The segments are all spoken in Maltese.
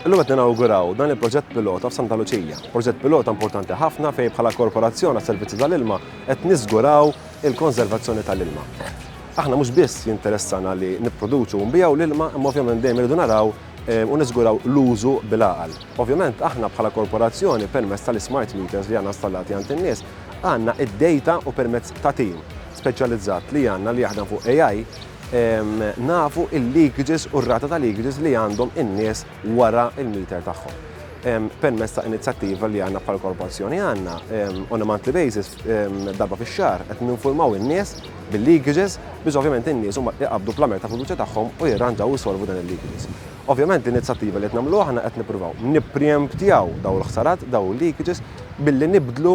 Illum qed ninawguraw dan il-proġett pilota f'Santa Luċija. Proġett pilota importanti ħafna fejn bħala korporazzjoni għas-servizzi tal-ilma qed niżguraw il-konservazzjoni tal-ilma. Aħna mhux biss jinteressana li nipproduċu u nbiegħu l-ilma, imma ovvjament dejjem irridu naraw u niżguraw l-użu bil-għaqal. Ovvjament aħna bħala korporazzjoni permezz tal-ismart meters li għandna installati għand in-nies għandna d-dejta u permezz ta' tim speċjalizzat li għandna li jaħdem fuq AI nafu l-leakages u r-rata ta' leakages li għandhom in-nies wara l-meter tagħhom. Permezz ta' inizjattiva li aħna bħala korporazzjoni għandna on a monthly basis darba fix-xahar qed ninfurmaw in-nies bil-leakages biex ovvjament in-nies huma iqabbdu plumer ta' fiduċja tagħhom u jirranġaw u jsolvu dan il-leakages. Ovvjament l-inizjattiva li qed nagħmlu aħna qed nippruvaw nippreemptjaw dawn il-ħsarat, dawn il-leakages billi nibdlu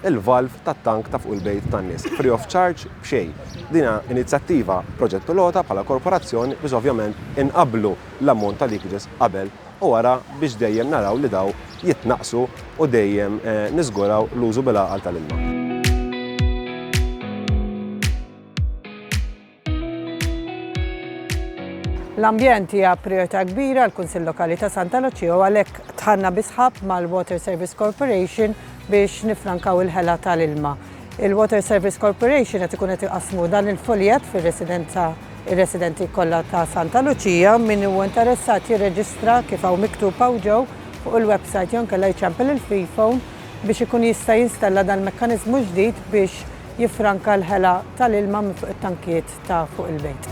l-valve tat-tank ta' fuq il-bejt tan-nies, free of charge, b'xejn. Din hija inizjattiva proġett pilota bħala korporazzjoni biex ovvjament inqabblu l-ammont ta' leakages qabel u wara biex dejjem naraw li dawn jitnaqqsu u dejjem niżguraw l-użu bil-għaqal tal-ilma. L-ambjent hija prijorità kbira għall-Kunsill Lokali ta' Santa Luċija u għalhekk dħalna bi sħab mal-Water Service Corporation biex niffrankaw il-ħela tal-ilma. Il-Water Service Corporation qed ikun qed iqassmu dan il-fuljett fir-residenza ir-residenti kollha ta' Santa Luċija. Min huwa interessat jirreġistra kif hawn miktub hawn ġew fuq il-websajt jew inkella jċempel il-freephone biex ikun jista' jinstella dal-mekkaniżmu ġdid biex jiffranka l-ħela tal-ilma minn fuq it-tankijiet ta' fuq il-bejt.